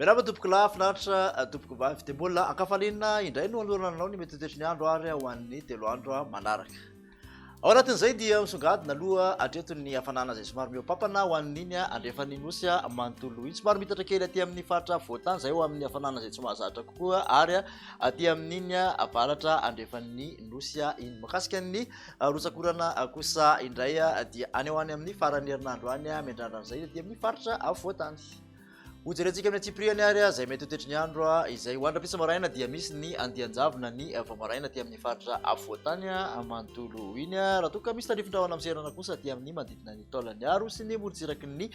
Miarahaba tompoko lahy, finaritra eh, tompoko vavy. Dia mbola ankafaliana indray no anoloana anao ny mety ho toetry ny andro ary ho an'ny telo andro manaraka. Ao anatin'izay dia misongadina aloha hatreto ny hafanana izay somary mihoapampana ho an'iny andrefan'ny nosy manontolo iny. Somary mitatra kely aty amin'ny faritra afovoan-tany izay ho amin'ny hafanana izay tsy mahazatra kokoa ary aty amin'iny avaratra andrefan'ny nosy iny. Makasika ny rotsak'orana kosa indray dia any ho any amin'ny faran'ny herinandro any miandrandra an'izay aty amin'ny faritra afovoan-tany. Hojerentsika amin'ny antsipiriany ary izay mety ho toetry ny andro izay ho andram-pisa maraina dia misy ny andian-javona ny vao maraina aty amin'ny faritra afovoantany manontolo iny. Raha toa ka misy tandrifin-drahona amin'ny seranana kosa aty amin'ny manodidina ny taolan'ny aro sy ny morontsiraky ny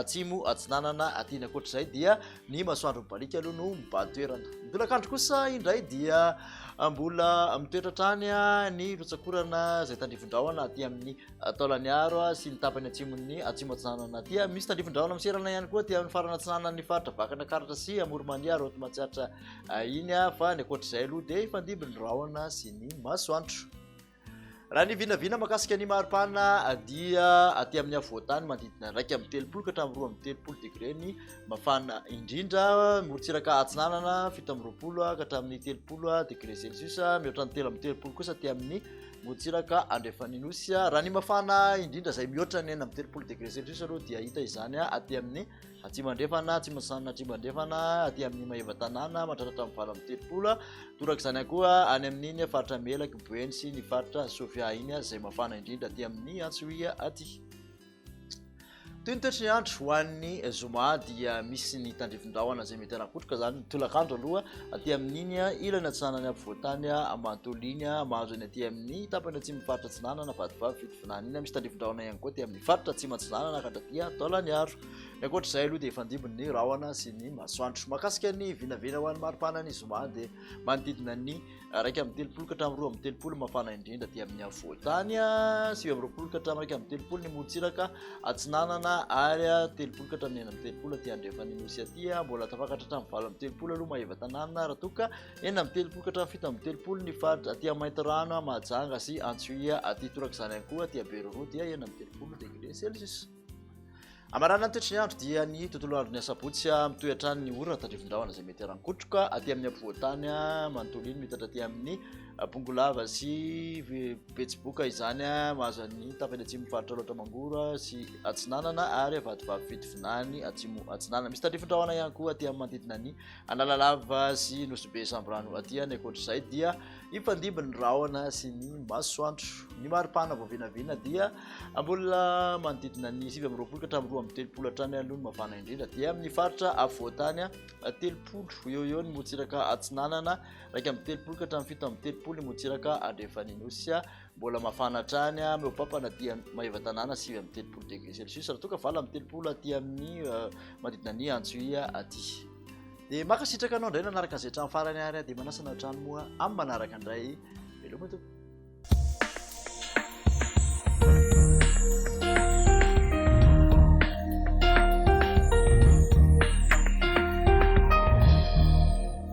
atsimo atsinanana aty ny ankoatr'izay dia ny masoandro mibaliaka aloha no mibahan toerana. Ny tolakandro kosa indray dia mbola mitoetra hatrany ny rotsakorana izay tandrifin-drahona aty amin'ny Taolagnaro sy ny tapany atsimon'ny Atsimo Atsinanana aty. Misy tandrifin-drahona miserana ihany koa aty amin'ny farana atsinanan'ny faritra Vakana Karatra sy Amorimania, Raoty Matsiatra eh, iny ah, fa ny ankoatr'izay aloha dia hifandimby ny rahona sy ny masoandro. Raha ny vinavina makasika ny maripana eh, dia aty amin'ny afovoan-tany manodidina iraika amby telopolo ka hatramin'ny roa amby telopolo degré ny mafana indrindra. Morontsiraka atsinanana fito amby roapolo ah, ka hatramin'ny telopolo ah, degré Celsius, mihoatra ny telo amby telopolo kosa aty amin'ny Motsiraka Andrefan'Inosy. Raha ny mafana indrindra izay mihoatra ny enina amby telopolo degré celsius aloha dia hita izany aty amin'ny atsimo andrefana, atsimo antsinanana atsimo andrefana, aty amin'ny maeva tanàna mandratatra amin'ny valo amby telopolo. Toraka izany ihany koa any amin'iny faritra Melaky, Boeny sy ny faritra Sofia iny izay mafana indrindra aty amin'ny Antsohihy aty. Toy ny toetry ny andro ho an'ny zoma dia misy ny tandrifin-drahona izay mety hanakotroka izany ny tolakandro aloha aty amin'iny ilany atsinanan'ny afovoantany manontolo iny mahazo eny aty amin'ny tapany atsimon'ny faritra atsinanana vadivavy fitovinany iny misy tandrifin-drahona ihany koa aty amin'ny faritra atsimo atsinanana ka hatraty taolaniaro ny ankoatra izay aloha dia efa andimby ny rahona sy ny masoandro makasika ny vinavina ho an'ny maripana ny zoma dia manodidina ny Iraika amby telopolo ka hatramin'ny roa amby telopolo mafana indrindra aty amin'ny afovoan-tany, sivy amby roapolo ka hatramin'ny iraika amby telopolo ny morontsiraka atsinanana ary telopolo ka hatramin'ny enina amby telopolo aty andrefan'ny nosy aty, mbola tafakatra hatramin'ny valo amby telopolo aloha maheva tanàna raha toa ka enina amby telopolo ka hatramin'ny fito amby telopolo ny faritra aty amin'ny maintirano, Mahajanga sy Antsohihy aty torak'izany ihany koa aty Beiroroa dia enina amby telopolo degré celsius. Amarana ny toetry ny andro dia ny tontolo andro ny asabotsy mitohy hatrany ny orana tandrifin-drahona izay mety harankotroka aty amin'ny afovoan-tany manontolo iny mitatra aty amin'ny ah, bongolava sy betsiboka izany mahazo ny tapany atsimo faritra loatra mangoro sy atsinanana ary avadibavy fitovinany atsimo atsinanana misy tandrifin-drahona ihany koa aty amin'ny manodidina ny analalava sy nosobe samborano aty any ankoatr'izay dia Hifandimby ny rahona sy ny masoandro. Ny maripana vao vinavina dia mbola manodidina ny sivy amby roapolo ka hatramin'ny roa amby telopolo hatrany aloha ny mafana indrindra. Dia amin'ny faritra afovoan-tany telopolo eo eo ny motsiraka atsinanana, iraika amby telopolo ka hatramin'ny fito amby telopolo ny motsiraka andrefan'ny nosy. Mbola mafana hatrany mihoa-pampana dia Maevatanàna sivy amby telopolo degré celsius raha toa ka valo amby telopolo aty amin'ny manodidina ny Antsohihy aty. Dia mankasitraka anao indray nanaraka izay hatramin'ny farany ary dia manasa anao hatrany moa amin'ny manaraka indray. Veloma tompoko.